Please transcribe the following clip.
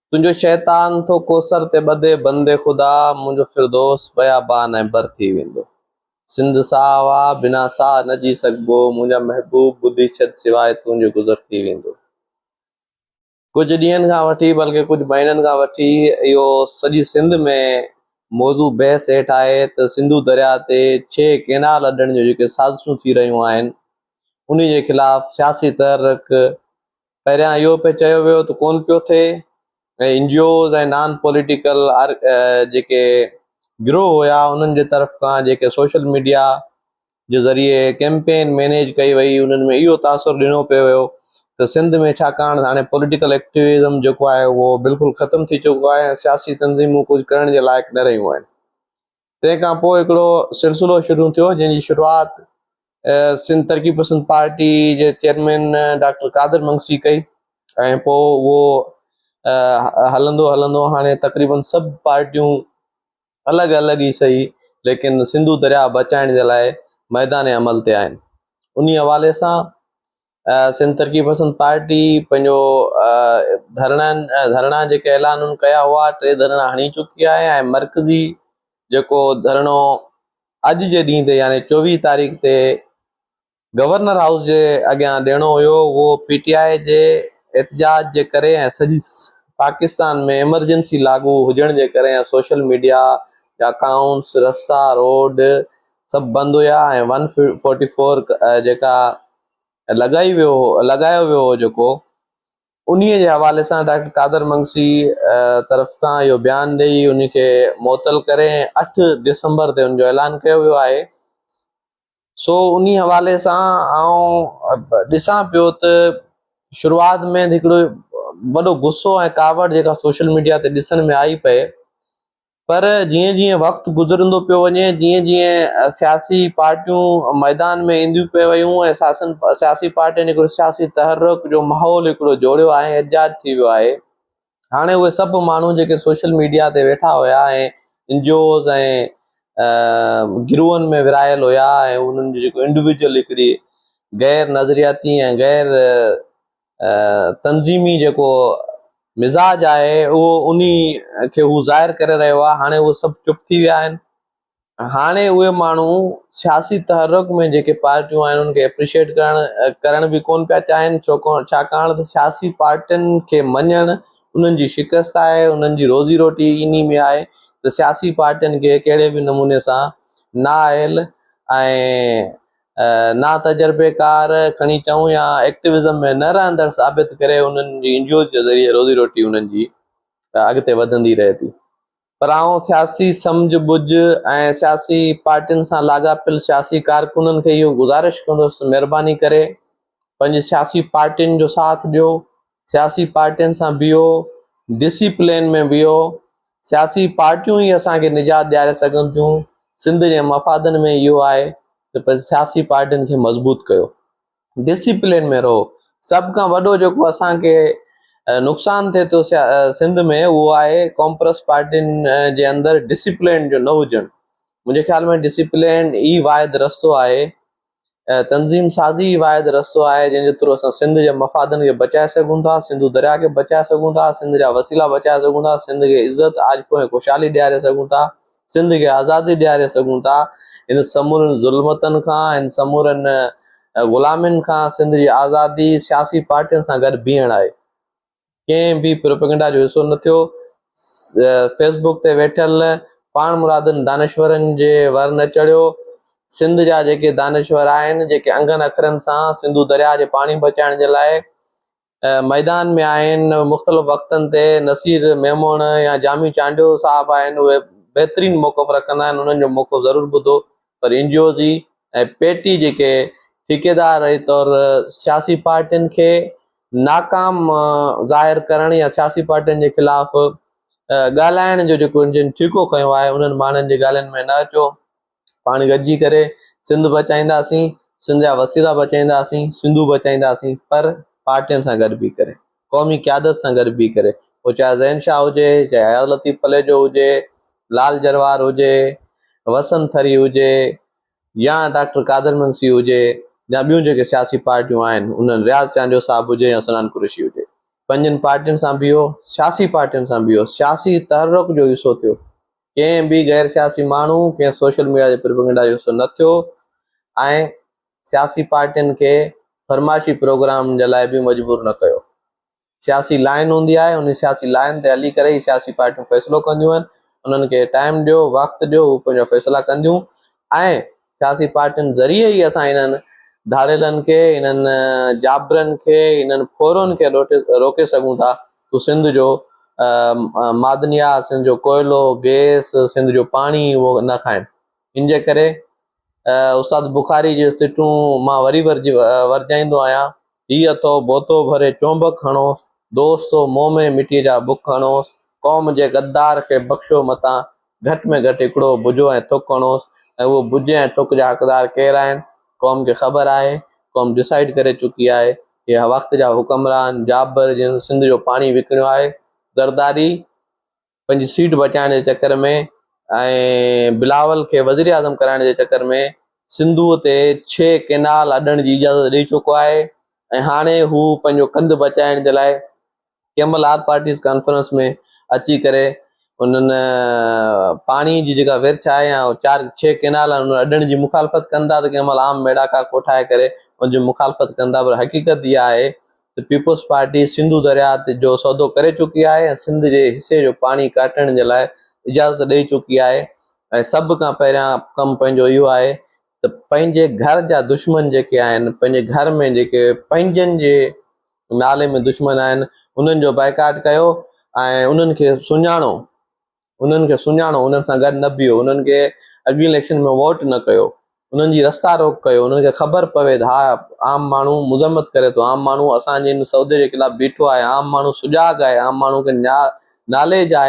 تنهنجو شيطان ٿو ڪوثر تي ٻڌي بندي خدا منهنجو فردوس بيابان ۽ بر ٿي ويندو سنڌ ساهه واهه بنا ساهه نه جي سگهبو منهنجا محبوب ٻڌي ڇڏ سواء تنهنجي گذر ٿي ويندو. ڪجهه ڏينهن کان وٺي بلڪه ڪجهه مهينن کان وٺي اهو سڄي سنڌ ۾ موضوع بحث هيٺ آهي ته سنڌو درياء تي ڇهه ڪينال اڏڻ جون جيڪي سازشون ٿي رهيون آهن انهي جي خلاف سياسي تحرڪ پهريان اهو پڻ چيو ويو ته ڪونه پيو ٿئي ۽ N G Os ۽ non political جيڪي گروهه هيا انهن جي طرف کان جيڪي سوشل ميڊيا جي ذريعي ڪيمپين مينيج ڪئي وئي انهن ۾ اهو تاثر ڏنو پيو ويو ته سنڌ ۾ ڇاڪاڻ ته هاڻي پوليٽيڪل ايڪٽيوزم جيڪو آهي اهو بلڪل ختم ٿي چڪو آهي ۽ سياسي تنظيمون ڪجهه ڪرڻ جي لائق نه رهيون آهن تنهن کان پوء هڪڙو سلسلو شروع ٿيو جنهن جي شروعات سنڌ ترقي پسند پارٽي جي چيئرمين ڊاڪٽر قادر منگسي ڪئي ۽ پوء اهو هلندو هلندو هاڻي تقريبن سڀ پارٽيون الڳ الڳ ئي سهي ليڪن سنڌو درياهه بچائڻ جي لاء ميدان عمل تي آهن انهي حوالي سان سنڌ ترقي پسند پارٽي پنهنجو ڌرڻن ڌرڻا جيڪي اعلان ڪيا هئا ٽي ڌرڻا هڻي چڪي آهي ۽ مرڪزي جيڪو ڌرڻو اڄ جي ڏينهن تي يعني چوويهه تاريخ تي گورنر هائوس جي اڳيان ڏيڻو هيو اهو پي ٽي آء جي احتجاج جي ڪري ۽ سڄي پاڪستان ۾ ايمرجنسي لاڳو هجڻ جي ڪري ۽ سوشل ميڊيا جا اڪائونٽس رستا روڊ سڀ بند هيا ۽ ون فورٽي فور جيڪا لڳائي ويو هو لڳايو ويو هو جيڪو انهي جي حوالي سان ڊاڪٽر قادر منگسي طرف کان اهو بيان ڏئي ان کي معطل ڪري اٺ ڊسمبر تي ان جو اعلان ڪيو ويو آهي سو انهي حوالي سان آئون ڏسان پيو ته شروعات ۾ هڪڙو وڏو غصو ۽ ڪاوڙ جيڪا سوشل ميڊيا تي ڏسڻ ۾ آئي پئي پر جيئن جيئن وقت گذرندو پيو وڃي، جيئن جيئن سياسي پارٽيون ميدان ۾ اينديون پيون ويون ۽ سياسي پارٽين هڪڙو سياسي تحرڪ جو ماحول هڪڙو جوڙيو آهي ۽ ايجاد ٿي ويو آهي. هاڻي اهي سڀ ماڻهو جيڪي سوشل ميڊيا تي ويٺا هيا ۽ اين جي اوز ۽ گروهن ۾ ورهايل هيا ۽ انهن جو جيڪو انڊويجوئل هڪڙي غير نظرياتي ۽ غير تنظيمي جيڪو مزاج آهي اهو انهي کي هو ظاهر ڪري رهيو آهي هاڻي اهي سڀ چپ ٿي ويا آهن هاڻي اهي ماڻهو سياسي تحرڪ ۾ جيڪي پارٽيون آهن انهن کي اپريشيٽ ڪرڻ ڪرڻ به ڪونه پيا چاهين ڇو ڪو ڇاڪاڻ ته سياسي پارٽين کي مڃڻ انهن جي شڪست آهي انهن جي روزي روٽي انهي ۾ آهي ته سياسي پارٽين کي ڪهڙي به نموني سان نااهل ۽ ناتجربيڪار کڻي چئون يا ايڪٽوزم ۾ نه رهندڙ ثابت ڪري انهن جي انجوز جي ذريعي روزي روٽي انهن جي اڳتي وڌندي رهي ٿي پر آئون سياسي سمجهه ٻجهه ۽ سياسي پارٽين سان لاڳاپيل سياسي ڪارڪنن کي اهو گذارش ڪندس ته مهرباني ڪري پنهنجي سياسي پارٽين جو ساٿ ڏيو سياسي پارٽين سان بيهو، ڊسي پلين ۾ بيهو، سياسي پارٽيون ئي اسان کي نجات ڏياري سگهن ٿيون، سنڌ جي مفادن ۾ اهو آهي ته پنهنجي سياسي پارٽين کي مضبوط ڪيو، ڊسي پلين ۾ رهو، سڀ کان وڏو جيڪو اسان کي نقصان ٿئي ٿو سنڌ ۾ اهو آهي ڪامپرس پارٽين جي اندر ڊسي پلين جو نه هجڻ، منهنجي خيال ۾ ڊسي پلين ئي واحد رستو آهي. تنظيم سازي ئي واحد رستو آهي، جنهن جي ٿرو اسان سنڌ جي مفادن کي بچائي سگهون ٿا، سنڌو درياء کي بچائي سگهون ٿا، سنڌ جا وسيلا بچائي سگهون ٿا، سنڌ کي عزت، آجپو ۽ خوشحالي ڏياري سگهون ٿا، سنڌ کي آزادي ڏياري سگهون ٿا. هن سمورين ظلمتن کان، هن سمورين غلامين کان سنڌ جي آزادي سياسي پارٽين سان گڏ بيهڻ آهي. ڪنهن به پروپيگنڊا جو حصو نه ٿيو. فيس بوڪ تي ويٺل پاڻمرادن دانشورن جي ور نه چڙهيو. سنڌ جا جيڪي دانشور آهن، جيڪي انگن اکرن سان سنڌو درياهه جي پاڻي بچائڻ جي لاء ميدان ۾ آهن، مختلف وقتن تي نصير ميمڻ يا جامي چانڊيو صاحب آهن، اهي بهترين موقف رکندا آهن، انهن جو موقف ضرور ٻڌو، پر N G Os ۽ P T جيڪي ٺيڪيدار طور سياسي پارٽين کي ناڪام ظاهر ڪرڻ يا سياسي پارٽين جي خلاف ڳالهائڻ جو جيڪو جن ٺيڪو کنيو آهي انهن ماڻهن جي ڳالهين ۾ نه اچو پاڻ گڏجي ڪري سنڌ بچائينداسين سنڌ جا وسيلا بچائينداسين سنڌو بچائينداسين پر پارٽين سان گڏ بيهي ڪري قومي قيادت سان گڏ بيهي ڪري پوء چاهي ذهين شاهه هجي چاهي اياز لطيف پليجو هجي لال جروار هجي وسند ٿري هجي يا ڊاڪٽر قادر منشي هجي يا ٻيون جيڪي سياسي پارٽيون آهن انهن رياض چانڊيو صاحب هجي يا سنان قريشي هجي پنهنجين پارٽين سان بيهو سياسي پارٽين سان بيهو سياسي تحرڪ جو حصو ٿيو ڪنهن به غير سياسي ماڻهو ڪنهن سوشل ميڊيا جي پروپيگنڊا جو حصو نه ٿيو ۽ سياسي پارٽين کي فرمائشي پروگرام جي لاء به مجبور نه ڪيو. سياسي لائن هوندي آهي، انهي سياسي لائن تي هلي ڪري ئي سياسي پارٽيون فيصلو ڪنديون آهن، انهن کي ٽائيم ڏيو، وقت ڏيو، هو پنهنجا فيصلا ڪنديون ۽ سياسي پارٽين ذريعي ئي اسان انهن ڌاڙيلن کي، انهن جابرن کي، انهن ڦورن کي روڪي سگهون ٿا ته سنڌ جو معدنيات، سنڌ جو ڪوئلو، گئس، سنڌ جو پاڻي اهو نه کائن. ان جي ڪري استاد بخاري جون سٽون مان وري ورجائيندو آهيان، هي اٿو بوتو ڀري چونبڪ هڻوس، دوستو منهن ۾ مٽيء جا بک هڻوس، قوم جي غدار کي بخشو متان، گهٽ ۾ گهٽ هڪڙو بجو ۽ ٿڪ هڻوس ۽ اهو بجي ۽ ٿڪ جا حقدار ڪير آهن، قوم کي خبر آهي، قوم ڊسائيڊ ڪري چڪي آهي، هي وقت جا حڪمران، جابر جن سنڌ جو پاڻي وڪڻيو آهي، زرداري، پنهنجي سيٽ بچائڻ جي چڪر ۾ ۽ بلاول کي وزيراعظم ڪرائڻ جي چڪر ۾ سنڌوء تي ڇهه ڪئنال اڏڻ جي اجازت ڏئي چڪو آهي ۽ هاڻي هو پنهنجو ڪنڌ بچائڻ جي لاء ڪنهن مهل آل پارٽيز ڪانفرنس ۾ اچي ڪري انهن پاڻي جي جيڪا ورڇ آهي يا چار ڇهه ڪئنال آهن انهن اڏڻ جي مخالفت ڪن ٿا ته ڪنهن مهل عام ميڙاڪا ڪوٺائي ڪري ان جي مخالفت ڪن ٿا پر حقيقت اها آهي ته پيپلز پارٽي سنڌو درياهه تي جو سودو ڪري چڪي آهي ۽ سنڌ جي حصي جو پاڻي ڪاٽڻ جي لاء اجازت ڏئي چڪي آهي ۽ سڀ کان پهريان ڪم پنهنجو اهو آهي ته پنهنجي گهر جا دشمن جيڪي آهن پنهنجي گهر ۾ جيڪي پنهنجن جي نالي ۾ دشمن آهن انهن جو بائيڪاٽ ڪيو ۽ انهن کي سڃاڻو انهن کي سڃاڻو، انهن سان گڏ نه بيهو، انهن کي اڳين اليڪشن ۾ ووٽ نه ڪيو، انهن جي رستا روڪ ڪيو، انهن کي خبر پوي ته ها عام ماڻهو مذمت ڪري ٿو، عام ماڻهو اسان جي ان سودي جي خلاف بيٺو آهي، عام ماڻهو سجاڳ آهي، عام ماڻهو کي ناليج آهي.